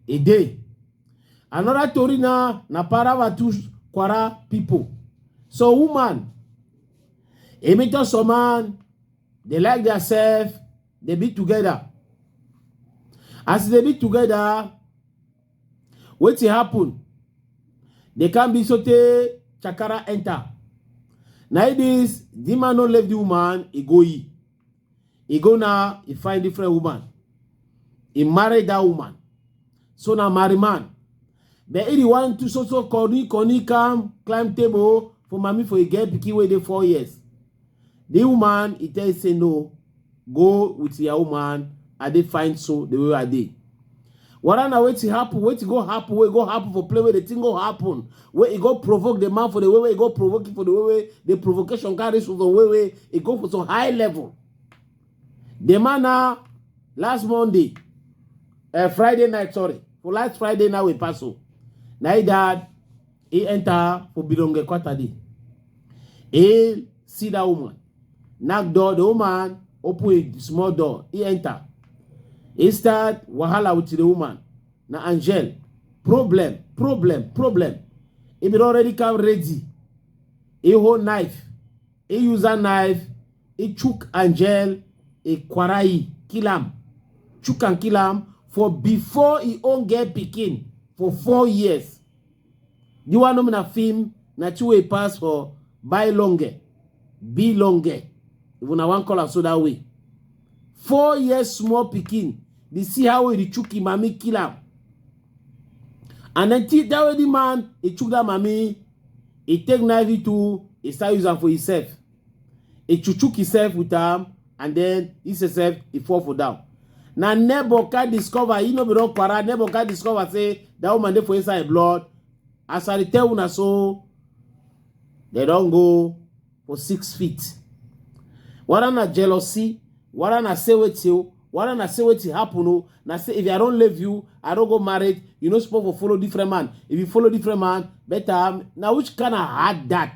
e dey another tori na na paravatush kwara pipo so woman emi just some man dey like diasef dey be togeda as e dey be togeda wetin happen dey come be so tey chakara enter na it is the man no left the woman he go he he go now he find different woman he marry that woman so na marry man but he the one to so so corny corny come climb table for mommy for he get pikin wey dey four years The woman, he tell you say no, go with your woman, I dey find so the way I dey. Whether na wetin happen, wetin go happen, wey go happen for play, wey the thing go happen, wey e go provoke the man for the way wey e go provoke him for the way wey the provocation carry so some way wey e go for some high level. The man na last Monday, uh, Friday night, sorry, for last Friday night we pass so. Na he died e enta fo bidonge kwatadi e see that woman knock door the woman open a small door e enter e start wahala with the woman na angel problem problem problem e bin already come ready e hold knife e use that knife e chook angel e kwarai kill am chook am kill am for before e own get pikin for four years The one nominal film na two way pass for buy longer, be longer. If una wan call am so that way. Four years small pikin, dey see how he chook him mami kill am. And then till that way the man he chook that mami, he take knife it too, he start use am for himself. He chuchuk himself with am and then he himself he fall for down. Na neighbor can discover, he no be don para, neighbor can discover say that woman dey for inside blood. As I tell una so, they don go for six feet. Whether na jealousy, whether na say wetin o, whether na say wetin happen o, na say if I don leave you, I don go married, you no suppose for follow different man. If you follow different man, better na which kind of hard that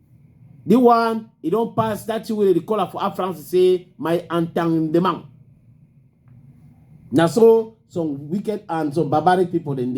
The one, he don't pass that thing wey dey call am for Afranc say my entendement. Na so some wicked and some barbaric people dem dey.